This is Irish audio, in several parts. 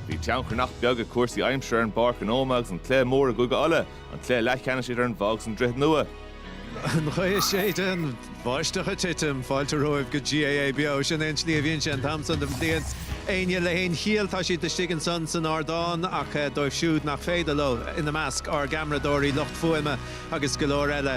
Bhí tionchar nach beag ag cúrsaí aimsire ar an bPáirc an Ómaigh agus an cluiche mór i gCúige Uladh, an cluiche leathcheannais idir an Bhoth agus an Droichead Nua. An ghaoth ag séideadh, an bháisteach ag titim, fáilte romhaibh go GAA Beo. Sin é an tslí a bhíonn sé an t-am san den bhliain. Éinne le haon chiall, tá siad istigh ansan san ardán, ach dóibh siúd nach féidir leo, ina measc, ár gceamaradóirí, lucht fuaime agus go leor eile,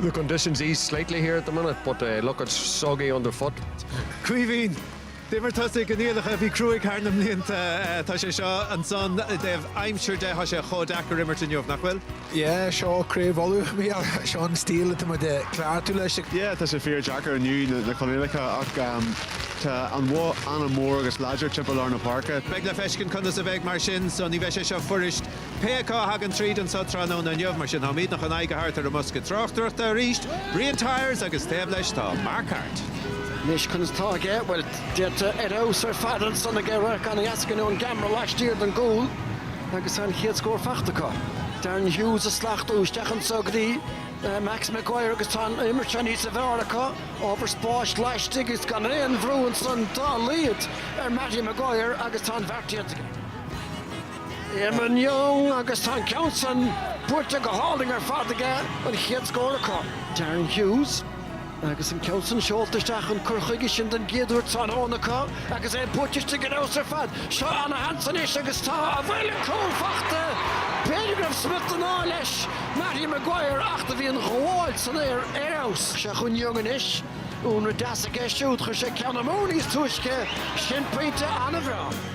The conditions ease slightly here at the minute but eh look it's soggy underfoot. Caoimhín, D'imir tusa i gcoinníollacha a bhí cruaidh thar na mblianta. Tá sé seo ansan i dtaobh aimsire de, tá sé chomh deacair imirt inniu, nach bhfuil? Yeah, seo Craobh Uladh a bhí ann, seo an stíl atá muid ag cleachtadh leis. Yeah, tá sé fíor deacair inniu, na coinníollacha ach ehm tá an Bhoth an-mhór agus láidir timpeall lár na páirce. Beidh le feiscint conas a bheidh mar sin so ní bheidh sé seo fuirist. Pé acu a thagann tríd anseo tráthnóna inniu, mar sin, táimidne chun aghaidh a thabhairt ar an mbosca tráchtaireachta arís, Brian Tyers, agus taobh leis tá Mark Harte. Anois, conas atá aige? Bhuel, déanta ar fheabhas ar fad ansan aige, radharc an-dheas againn ón gceamra laistiar den gcúl agus tá an chéad scór faighte acu. Darren Hughes a slachtú isteach anseo go dtí Max Maguire agus tá an imirt seo níosa bhfearr acu, ábhar spáis laistigh agus gan aon bhrú ansan dá laghad ar Matty Maguire agus tá an bheart déanta aige. Eamonn Young agus tá an ceann san buaite go hálainn ar fad aige, an chéad scór acu. Darren Hughes agus an ceann san seolta isteach, an cur chuige sin den gcéad uair tráthnóna acu agus é buaite istigh ar fheabhas ar fad. Seo an-sheans anois agus tá, an bhfuil an cúl faighte. B'fhéidir go raibh smut den ádh leis, Mattie Maguire ach do bhí an ghabháil san aer ar fheabhas. Seo chugainn Young anois. Únla deas aige siúd, chuir sé ceann amú níos túisce. Sin pointe an-bhreá.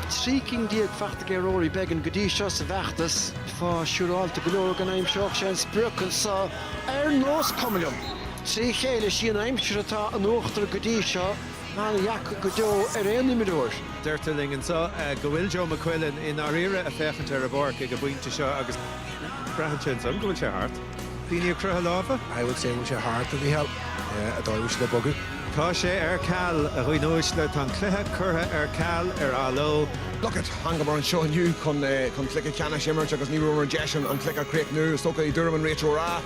13 cinn faighte aige Rory Beggan go dtí seo sa bhfeachtas. Tá siúráilte go leor go n-aimseoidh sé an sprioc anseo ar nós cuma liom. Trí chéile, sí an aimsir atá in uachtar go dtí seo, an-dheacair go deo ar aon imreoir. Deirtear linn anseo go bhfuil Joe McQuillan i ndáiríre ag féachaint ar an bpáirc ag an bpointe seo agus braitheann sé ansan go bhfuil sé thart. Daoine ag croitheadh lámha. I would say bhfuil sé thart a Mhícheáil, a Dháibhí bhfuil siad ag bogadh. Tá sé ar ceal, a dhaoine uaisle, tá an cluiche curtha ar ceal, ar athló. Look it, thángamar anseo inniu chun cluiche ceannais a imirt agus ní raibh an deis ann an cluiche a chríochnú. Is dócha, i dtuairim an réiteora,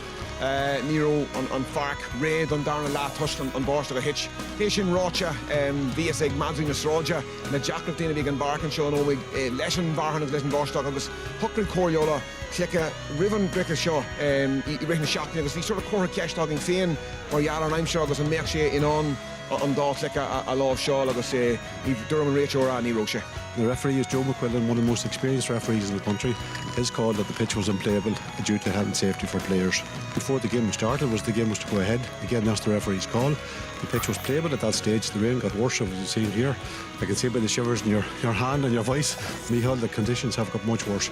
ní raibh an pháirc réidh don darna leath toisc an bháisteach a thit. É sin ráite, bhí fhios ag madraí na sráide na deacrachtaí a bhí ag an bpáirc anseo in Ómaigh leis an fhearthainn agus leis an bháisteach agus shocraigh Comhairle Uladh, feicthe roimh an gcluiche seo i rith na seachtaine agus bhí sort of curtha ceist againn féin mar gheall ar an aimsir agus an mbeadh sé in ann an dá chluiche a láimhseáil agus dúirim an réiteoir ah ní raibh sé. The referee is Joe McQuillan, one of the most experienced referees in the country. His call that the pitch was unplayable due to health and safety for players before the game started was the game was to go ahead. Again that's the referee's call. The pitch was playable at that stage. The rain got worse as you see here. I can see by the shivers in your your hand and your voice Micheál that conditions have got much worse.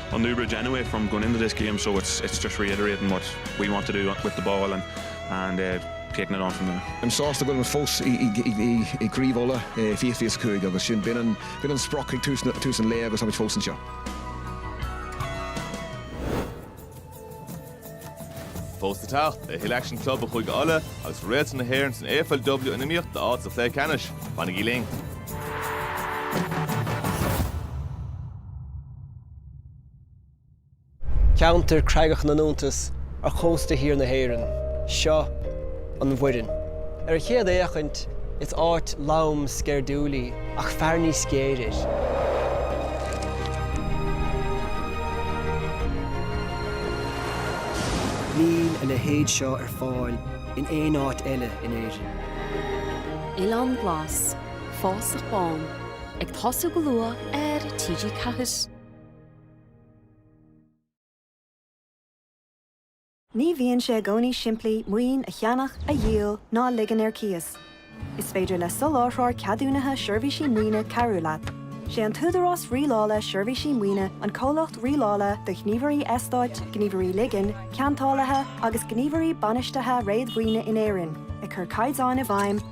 on Newbridge anyway from going into this game so it's it's just reiterating what we want to do with the ball and and eh taking it on from there. I'm sásta go bhfuilimid fós i i i i i gCraobh Uladh eh fiche fiche is a cúig agus sin b'in an b'in an sprioc ag tús na tús an lae agus táimid fós anseo. Fós le teacht, tuilleadh aicsin club ó Chúige Uladh agus Réaltra na hÉireann san AFLW in iomaíocht d'áit sa chluiche ceannais. Fanaigí linn! Ceantar creagach na n-iontas ar chósta thiar na hÉireann, seo an Bhoirinn. Ar an chéad fhéachaint, is áit lom sceirdiúil í, ach féach níos géire air. Níl a leithéid seo ar fáil in aon áit eile in Éirinn. Oileán Glas. Fásach Bán, ag tosú go luath ar TG4. Ní bhíonn sé i gcónaí simplí maoin a cheannach, a dhíol ná a ligean ar cíos. Is féidir le soláthróir ceadúnaithe seirbhísí maoine cabhrú leat. Sé an tÚdarás Rialála Seirbhísí Maoine an comhlacht rialála do ghníomhairí eastáit, gníomhairí ligin, ceantálaithe agus gníomhairí bainistithe réadmhaoine in Éirinn, ag cur caighdeáin i bhfeidhm,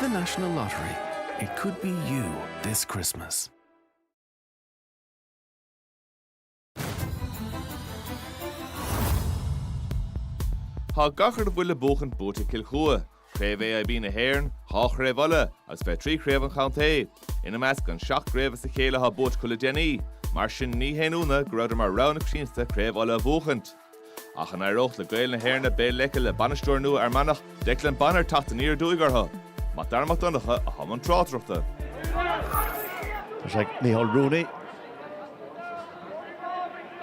The National Lottery, It could be you this Christmas. Tá gach a bhfuil le buachaint buaite ag Cill Chua, Craobh AIB na hÉireann, dhá chraobh Uladh agus fiche trí chraobh an chontae. Ina measc an seacht gcraobh as a chéile atá buaite acu le déanaí, mar sin ní haon ionadh go raibhdar mar rogha na coitianta Craobh Uladh a bhuachaint. Ach an éireodh le Gaeil na hÉirne Béal Leice le bainisteoir nua Fhear Manach, Declan Bonner, teacht aniar aduaidh orthu? Mac Dara Mac Donncha i mbun na tráchtaireachta. Tá sé ag Micheál Rooney.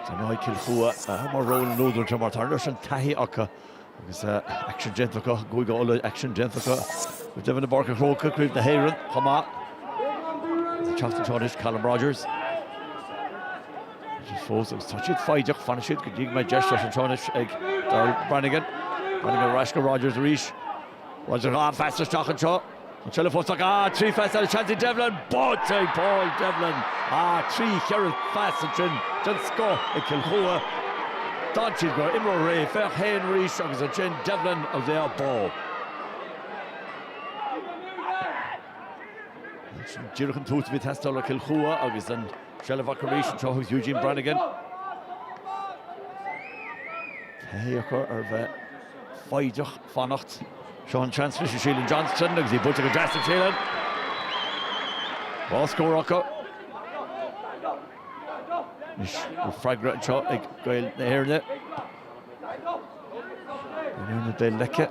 So an-aithne ar Chill Chua, mar ról an údair de mar tá leis an taithí acu. Agus aicsean déanta acu i gCúige Uladh, aicsean déanta acu go deimhin i bPáirc an Chrócaigh, craobh na hÉireann chomh maith ansin anois, Callum Rogers. Agus fós agus tá siad foighdeach, fanfaidh siad go dtí go mbeidh deis ann anseo anois ag Daryl Brannigan. Brannigan ar ais go Rogers arís. Rogers dhá phas isteach anseo. An seilbh fós acu. Ah, trí phas ansin ag Devlin! Buailte ag Paul Devlin! Ah, trí cheithre phas ansin den scoth ag Cill Chua. D'fhan siad go raibh imreoir réidh. Fear ann féin arís agus ansin Devlin agus é á bualadh. Sin díreach an tús a bhí ag teastáil ó Chill Chua agus an seilbh acu arís anseo agus Eugene Brannigan. Taithí acu ar bheith foighdeach. fanacht. Seo an seans freisin Shealan Johnston agus í buailte go deas ag Shealan. Dhá scór acu. Anois an freagra anseo ag Gaeil na hÉirne. Gaeil na hÉirne Béal Leice,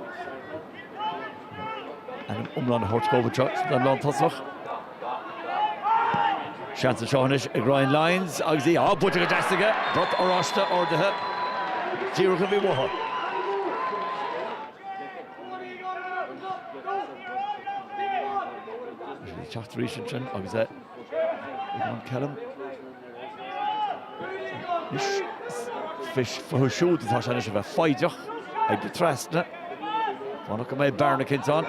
ainm iomlán a thabhairt dhóibh anseo sa dá lántosach. Seans anseo anois ag Ryan Lyons agus í buailte go deas aige. Brat oráiste ardaithe díreach an rud a bhí uathu. Bhí sí ag teacht arís ansin agus Eamonn Kellan. Anois fúthu siúd atá sé anois a bheith foighdeach ag dul trasna. Fanacht go mbeidh bearna eicínt ann.